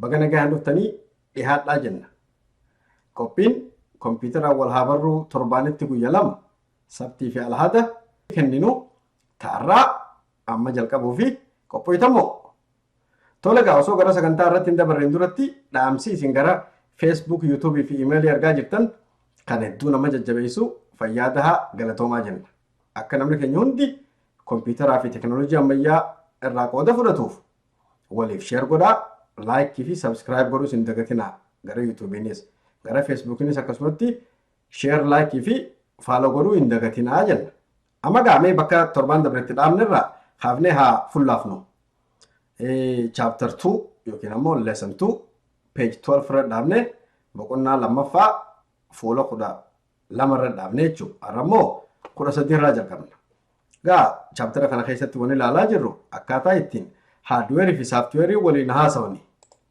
Baga nagaan dhuftanii dhihaadhaa jenna. Qophiin kompiitaraan wal haa barruu torbaanitti guyya lama sabtii fi alhada kenninu ta'arraa amma jalqabuu fi qophooytamoo. Tole gaa osoo gara sagantaa irratti hin dabarreen duratti dhaamsi isin gara Facebook, YouTube fi email ergaa jirtan kan hedduu nama jajjabeessu fayyaa dahaa galatoomaa jenna. Akka namni keenya hundi kompiitaraa fi teknooloojii ammayyaa irraa qooda fudhatuuf Waliif share godhaa, like fi subscribe godhuus hin dagatinaa gara YouTubenis, gara Facebookinis akkasumatti share, like fi follow godhuu hin dagatinaa jenna. Amma gaa mee bakka torbaan dabre itti dhaabne irraa kaafnee haa fullaafnu. Chapter 2 yookiin ammoo lesson 2 page 12 irra dhaabne boqonnaa lammaffaa fuula kudha lama irra dhaabne jechuudha. Har'a immoo kudha sadii irraa jalqabna. Gaa chaaptara kana keessatti waan ilaalaa jirru akkaataa ittiin haardweerii fi saaftiweerii waliin haasawani.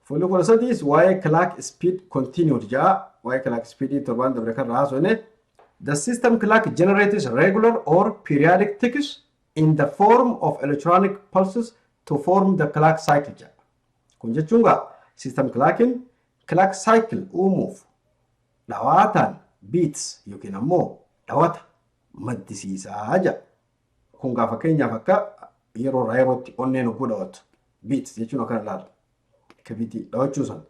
Fuulli kudha sadiis waa'ee clock speed continued ja'a. Waa'ee clock speed torbaan dabre kan haasofne. The system clock generates regular or periodic ticks in the form of electronic pulses to form the clock cycle ja'a. Kun jechuun gaa system clockin clock cycle uumuuf dhawaataan, beats, yookiin ammoo dhawata maddisiisa jedha. Kun gaa fakkeenyaaf akka yeroo irraa yerootti onneen hogguu dhawattu beats jechuun akkana ilaala. Kabitii dhawachuu sana.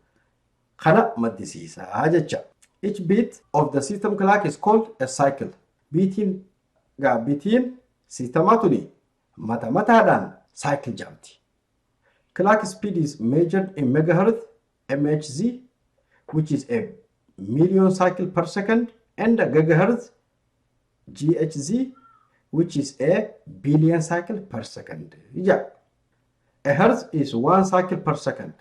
Kana maddisiisa jecha. Each beat of the system clock is called a cycle. Biitiin gaa biitiin siistemaa tuni mata mataadhaan cycle jedhamti. Clock speed is measured in megahertz MHz which is a million cycle per second and a gigahertz GHz which is a billion cycle per second. Ija. A hertz is one cycle per second.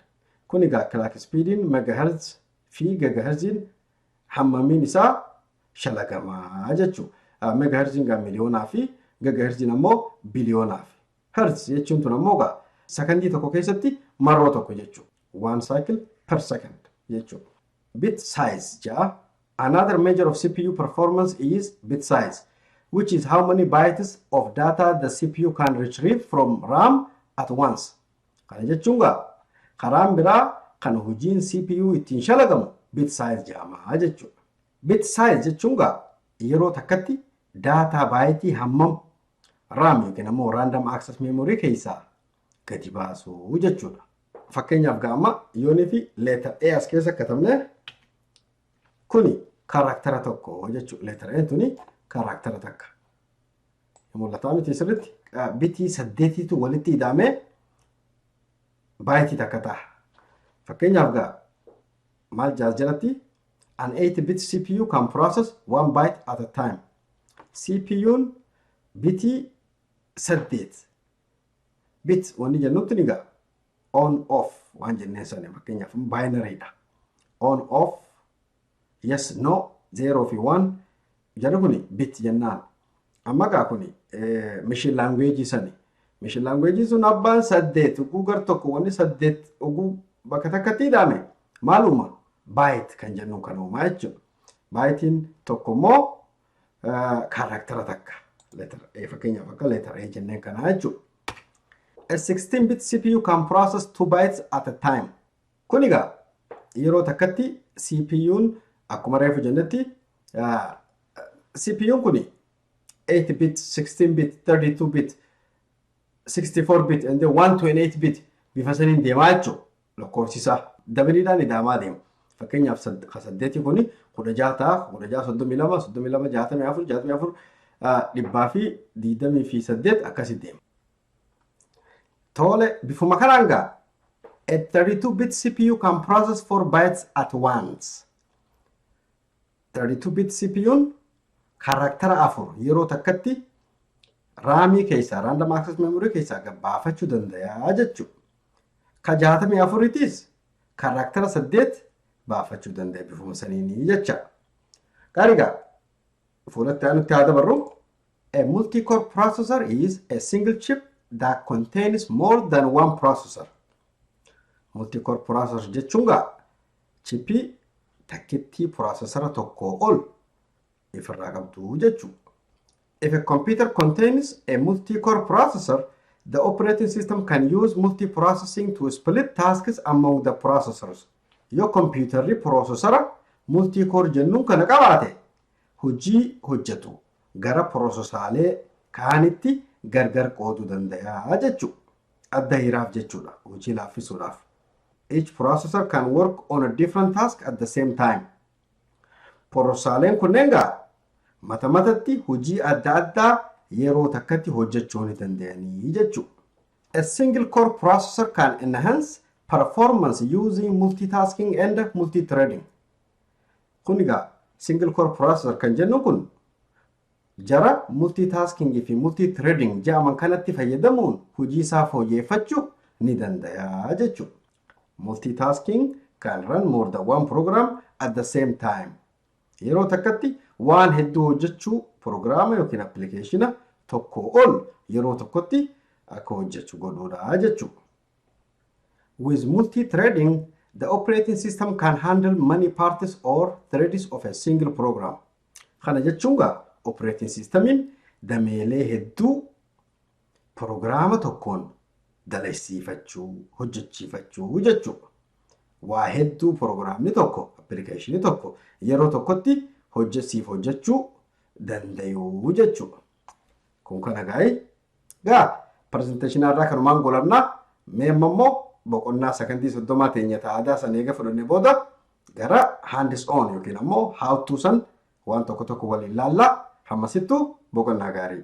Kun egaa clock speediin megahertz fi gigahertziin hammamiin isaa shalagamaa jechuudha. Megahertziin egaa miliyoonaa fi gigahertziin ammoo biliyoonaaf. Hertz jechuun tun ammoo egaa sakandii tokko keessatti marroo tokko jechuudha. 1 cycle per second jechuudha. Bit size 6 Another measure of CPU performance is bit size, which is how many bytes of data the CPU can retrieve from RAM at once. Kana jechuun gaa karaan biraa kan hojiin CPU ittiin shalagamu bit size jedhama jechuudha. Bit size jechuun gaa yeroo takkatti daataa baayitii hammam RAM yookiin ammoo random access memory keessaa gadi baasu jechuudha. Fakkeenyaaf gaa amma yoonii fi leetar A as keessa katabne kuni karaktara tokko jechuudha. Leetar A tuni karaktara takka. Mul'ataa miti sirriitti bitii saddeetiitu walitti ida'amee baayitii takka ta'a. Fakkeenyaaf gaa maal jaas jalatti an 8 bit CPU can process one byte at a time. CPUn bitii saddeet bit wanni jennutti ni ga'a. On off waan jenneen sana fakkeenyaaf binary dha. On off yes no 0 fi 1 jarri kuni bit jennaan. Amma gaa kuni mishin laanguweejii sani. Mishin laanguweejiin sun abbaan saddeet oguu gar tokko wanni saddeet oguu bakka takkatti ida'ame maaluma baayit kan jennuun kan uumaa jechuudha. Baayitiin tokko immoo kaaraaktara takka letter A fakkeenyaaf akka letter A jenneen kana jechuudha. A 16 bit CPU can process 2 bytes at a time. Kun egaa yeroo takkatti CPU'n akkuma reefu jennetti CPU'n kun 8 bit, 16 bit, 32 bit, 64 bit and 128 bit bifa saniin deemaa jechuudha. lakkoofsisaa dabaliidhaan ida'amaa deema. Fakkeenyaaf ka saddeetii kuni kudha jaha ta'a, kudha jaha soddomii lama, soddomii lama jaatamii afur, jaatamii afur dhibbaa fi digdamii fi saddeet akkasi deema. Tole bifuma kanaan gaa a 32 bit CPU can process 4 bytes at once. 32 bit CPUn kaaraaktara afur yeroo takkatti raamii keessaa random access memory keessaa gad baafachuu danda'a jechuudha. Ka 64 tiis kaaraaktara saddeet baafachuu danda'a bifuma saniini jecha. Gaarigaa fuulatti aanutti haa dabarru. A multi-core processor is a single chip that contains more than one processor. Multi-core processor jechuun gaa Chippii takkittii puraasesara tokkoo ol if irraa qabdu jechuu. If a computer contains a multi-core processor, the operating system can use multi-processing to split tasks among the processors. Yoo kompiitarri poroosesara multi-core jennuun kana qabaate, hojii hojjetu gara poroosesaalee kaanitti gargar qooduu dandayaa jechuu. Adda hiraaf jechuudha, hojii laaffisuudhaaf. Each processor can work on a different task at the same time. Pororsaaleen kunneen gaa mata matatti hojii adda addaa yeroo takkatti hojjechuu ni danda'anii jechuudha. A single core processor can enhance performance using multitasking and multithreading. Kun egaa single core processor kan jennu kun Jara multitasking fi multithreading ja'aman kanatti fayyadamuun hojii isaa fooyyeeffachu ni dandaya jechuudha. Multitasking can run more than one program at the same time. Yeroo takkatti waan hedduu hojjechuu prograama yookiin appilikeeshina tokkoo ol yeroo tokkotti akka hojjechu godhuudha jechuudha. With multithreading, the operating system can handle many parts or threads of a single program. Kana jechuun gaa operating systemiin dameelee hedduu pirogiraama tokkoon dalaysiifachuu, hojjechiifachuu jechuudha. Waa hedduu pirogiraamni tokko, appilikeeshinii tokko yeroo tokkotti hojje siif hojjechuu dandayuu jechuudha. Kun kana gaa'ee gaa pirezenteeshinaa irraa kanumaan golamnaa mee amma immoo boqonnaa sakandii soddomaa teenya ta'aadaa san eega fudhanne booda gara handis on yookiin ammoo haawtuu san waan tokko tokko waliin laallaa hammasittuu boqonnaa gaarii.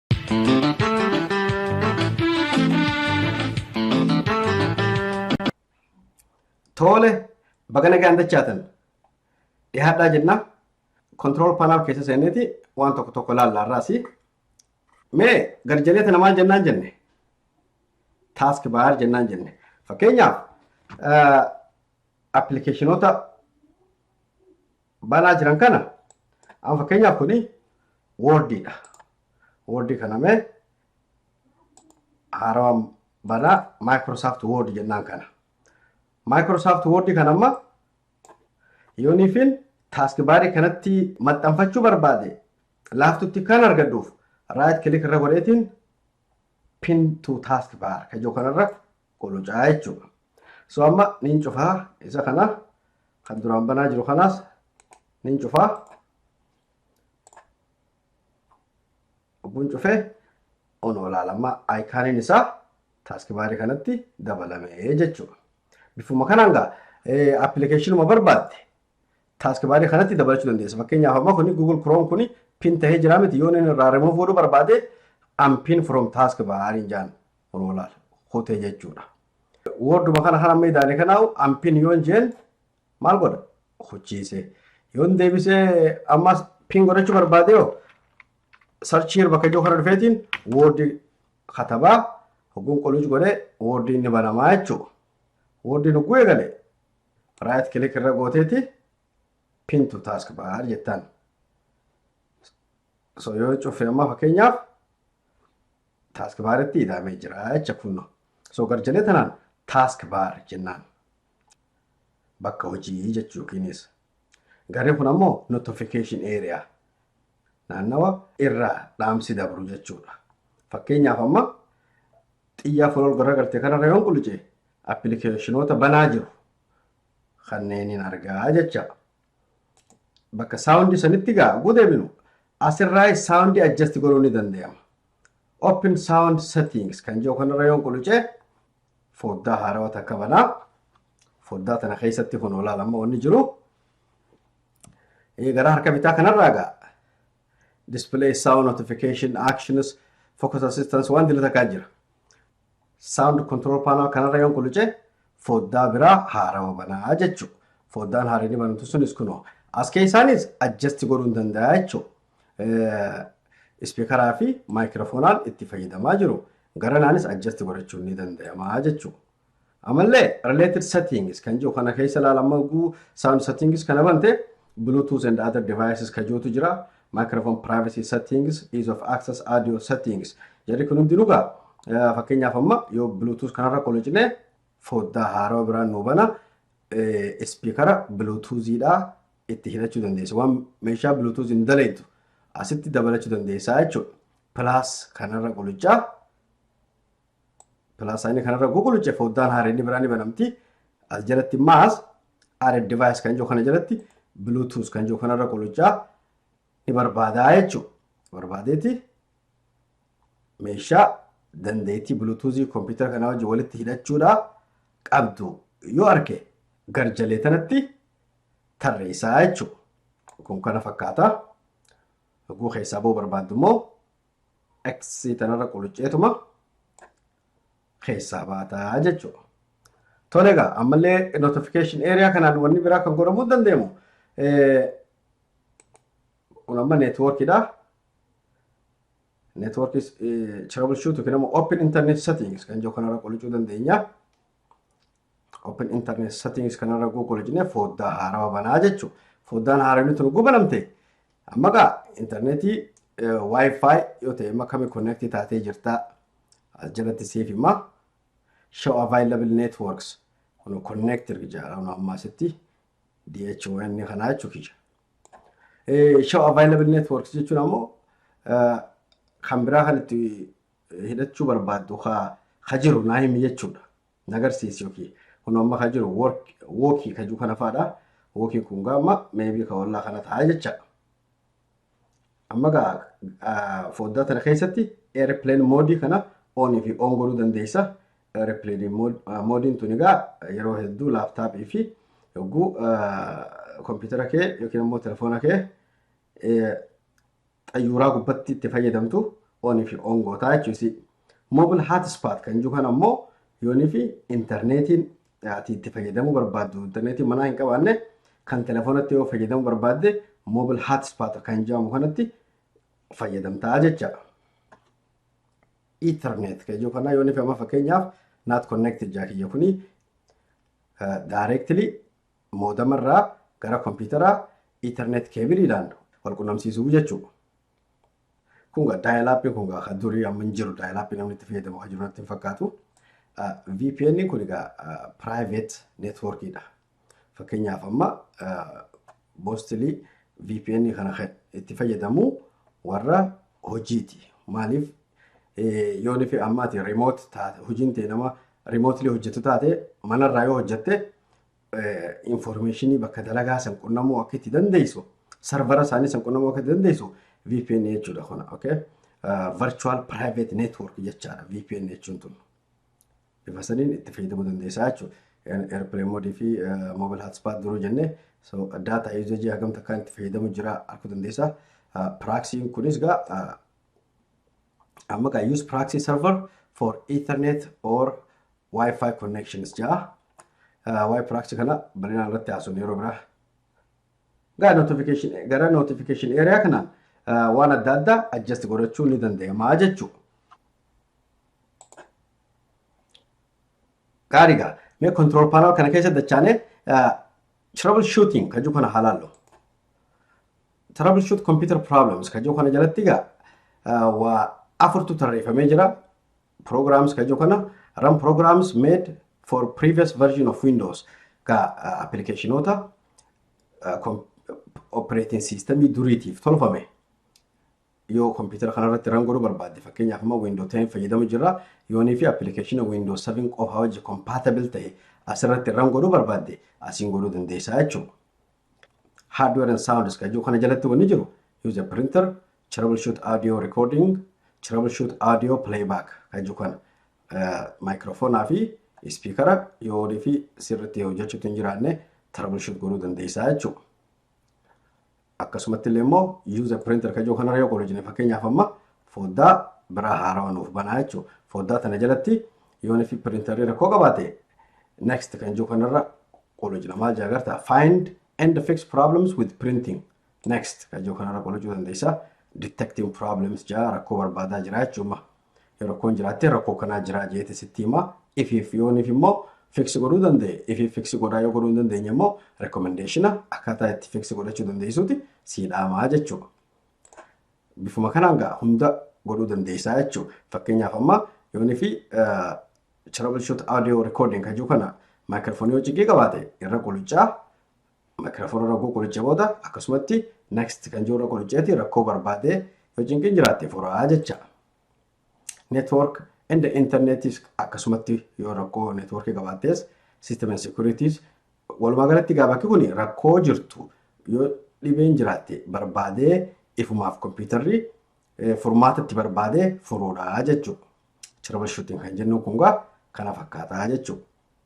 Toole baga nagaan dachaatan dhihaadhaa jenna kontirool paanaal keessa seeneeti waan tokko tokko ilaallaa irraasi. Mee garjalee tana maal jennaan jenne? Taask baar jennaan jenne. Fakkeenyaaf appilikeeshinoota banaa jiran kana amma fakkeenyaaf kuni woordiidha. Woordii kana mee haarawaan banaa Microsoft Word jennaan kana. Microsoft Word kana amma yooniifin taaskibaarii kanatti maxxanfachuu barbaade laaftutti kan argadhuuf raayit kilik irra godheetiin pin to taskbar kajoo kanarra qulucaa jechuudha. So amma niin cufaa isa kana kan duraan banaa jiru kanaas niin cufaa. Obbuun cufee on olaala amma ayikaaniin isaa taaskibaarii kanatti dabalamee jechuudha. Bifuma kanaan gaa appilikeeshinuma barbaadde taaskibaarii kanatti dabalachuu dandeessa. Fakkeenyaaf amma kuni Google Chrome kuni pin tahee jira miti yoo inni irraa remove godhuu barbaade unpin from taskbar hin jaan Kunoo laal kutee jechuudha. Woorduma kana kan amma idaale kanaa'u ampin yoon jeen maal godha? Kuchiise. Yoon deebisee ammas pin godhachuu barbaade yoo sarchii yeroo bakka ijoo kana dhufeetiin woordii katabaa hogguun qoluus godhee woordiin ni banamaa jechuudha. Woordiin hogguu eegale raayit kilik irra gooteeti pin to taask baar jettaan. So yoo cufe amma fakkeenyaaf Task bar itti ida'amee jira jecha kunno. So garjalee tanaan task bar jennaan. Bakka hojii jechuu yookiinis. Garri kun ammoo notification area. Naannawa irraa dhaamsi dabru jechuudha. Fakkeenyaaf amma xiyyaa fuula ol garagalte kanarra yoon qulice appilikeeshinoota banaa jiru kanneen hin argaa jecha. bakka sound sanitti gaa oguu deebinu asirraa sound adjust godhuu ni danda'ama. Open sound settings kan jiru kanarra yoon quluce foddaa haarawa takka banaa. Foddaa tana keessatti kun olaal amma wanni jiru. Gara harka bitaa kanarraa gaa display sound notification actions focus assistance waan dila takkaa jira. Sound control panel kanarra yoon quluce foddaa biraa haarawa banaa jechu. Foddaan haarinni banamtu sunis kunoo. As keessaanis adjust godhuun danda'a jechu. Ispiikaraa fi maayikiroofoonaan itti fayyadamaa jiru. Garanaanis adjust godhachuun ni danda'ama jechu. Amallee related settings kan jiru kana keessa ilaala amma guu sound settings kana bante bluetooth and other devices ka jirutu jira microphone privacy settings ease of access audio settings jedhi kun hundi dhugaa fakkeenyaaf amma yoo bluetooth kanarra qolocine foddaa haarawa biraan nuu bana ispiikara bluetoothiidha itti hidhachuu dandeessa waan meeshaa bluetooth hin daleettu asitti dabalachuu dandeessaa jechuudha plus kanarra qolichaa Pilaas saayinii kanarra guguluche foddaan haaree inni biraa ni banamti. As jalatti maas aare device kan jiru kana jalatti bluetooth kan jiru kanarra guluchaa ni barbaadaa jechuudha. Barbaadeeti meeshaa dandeettii bluetoothii kompiitara kanaa wajjin walitti hidhachuudhaa qabdu yoo arge garjalee tanatti tarreessaa jechuudha. Kun kana fakkaata. Oguu keessaa boo barbaaddu immoo x tanarra qulucceetuma keessaa baataa jechuudha. Tole egaa ammallee notification area kanaan wanni biraa kan godhamuu danda'amu kun amma neetwoorkiidha. Neetwoorkii troubleshoot yookiin immoo open internet settings kan jiru kanarra qulucuu dandeenya. open internet settings kanarra google jennee foddaa haarawa banaa jechuu foddaan haarawni tun gubanamte amma gaa internetii wifi yoo ta'e amma kami connect taatee jirta as jalatti siif hima show available networks kun connect jedhamu amma asitti DHON kanaa jechuu kiyya. Show available networks jechuun ammoo kan biraa kan itti hidhachuu barbaaddu ka ka jiru naa himi jechuudha. Na garsiisi yookiin kun amma ka jiru work wookii ka jiru kana faadha. Wookiin kun gaa amma meebii ka ollaa kana ta'a jecha. Amma gaa ah, foddaa tana keessatti airplane mode kana on fi on godhuu dandeessa. Airplane mode- ah, moodiin tuni gaa yeroo hedduu laaptaappii fi yogguu ah, kompiitara kee yookiin immoo telefoona kee xayyuuraa gubbatti itti fayyadamtu on fi on gootaa jechuusi. Mobile hotspot kan jiru kana immoo yoonii fi intarneetiin ati itti fayyadamuu barbaaddu intarneetii manaa hin qabaanne kan telefoonatti yoo fayyadamuu barbaadde mobile hotspot kan jedhamu kanatti fayyadamtaa jecha. Ethernet kan jiru kana yoonii fi amma fakkeenyaaf not connected jaa kiyya kuni directly moodama irraa gara kompiitaraa Ethernet keebiliidhaan wal qunnamsiisuu jechuudha. Kun gaa daayilaappii kun gaa kan durii amma hin jiru daayilaappii namni itti fayyadamu kan jiru natti hin fakkaatu. VPN kun egaa private network dha. Fakkeenyaaf amma mostly VPN kana kan itti fayyadamu warra hojiiti. Maaliif yoo nufi ammaati remote taate hojiin ta'e nama remotely hojjetu taate manarraa yoo hojjette information bakka dalagaa san qunnamuu akka itti dandeessu sarvara isaanii san qunnamuu akka itti dandeessu VPN jechuudha kun okay virtual private network jechaadha VPN jechuun tun bifa saniin itti fayyadamuu dandeessaa jechuudha airplane mode fi mobile hotspot duruu jennee so data usage hagam takkaan itti fayyadamu jira akka dandeessaa praxiin kunis gaa amma gaa use proxy server for ethernet or wifi connections ja'a waa'ee proxy kana bal'inaan irratti haasofnu yeroo biraa gaa notification gara notification area kana waan adda addaa adjust godhachuu ni danda'ama jechuudha. Gaariidha. Mee control panel kana keessa dachaanee Trouble shooting ka jiru kana haa laallu. Trouble shoot computer problems ka jiru kana jalatti egaa ah, waa afurtu tarreeffamee jira. Programs ka jiru kana run programs made for previous version of Windows ka ah, applicatiinoota ah, com- operating system duriitiif tolfame. yoo kompiitara kanarratti ran godhuu barbaadde fakkeenyaaf amma window 10 fayyadamu jirra yoonii fi appilikeeshina window 7 qofa wajji compatible ta'e asirratti ran godhuu barbaadde asiin godhuu dandeessaa jechuudha. Hardware and sound iska jiru kana jalatti wanni jiru use a printer troubleshoot audio recording troubleshoot audio playback kan jiru kana maayikiroofoonaa fi ispiikara yoonii fi sirriitti hojjechuutti hin jiraanne troubleshoot godhuu dandeessaa jechuudha. Akkasumatti illee immoo use a printer kajoo kanarra yoo qoodojine fakkeenyaaf amma foddaa biraa haarawa nuuf banaa jechuu foddaa tana jalatti yoon fi printerri rakkoo qabaate next kan jiru kanarra qoodojina maal jaa garta find and fix problems with printing next kan jiru kanarra qoodojuu dandeessa detecting problems jaa rakkoo barbaadaa jira jechuudha Yoo rakkoon jiraatte rakkoo kanaa jiraa jeete sitti hima. Ifiif yooniif immoo fiksi godhuu danda'e. Ifiif fiksi godhaa yoo godhuu hin dandeenye immoo rekomendeeshina akkaataa itti fiksi godhachuu dandeessuuti sii dhaamaa jechuudha. Bifuma kanaan gaa hunda godhuu dandeessaa jechuudha. Fakkeenyaaf amma yoonii fi troubleshoot audio recording kan jiru kana maayikirfoonii yoo ciqii qabaate irra quluccaa Maayikiraafoon irra hogguu qoricha booda akkasumatti next kan jiru irra qoricheeti rakkoo barbaadee yoo cinqiin jiraatte furaa jecha. Network and internetis akkasumatti yoo rakkoo networkii qabaattees system and securities walumaa galatti gaa bakki kun rakkoo jirtu yoo dhibeen jiraatte barbaadee ifumaaf kompiitarri furmaata itti barbaadee furuudha jechuudha. Troubleshooting kan jennu kun gaa kana fakkaataa jechuudha.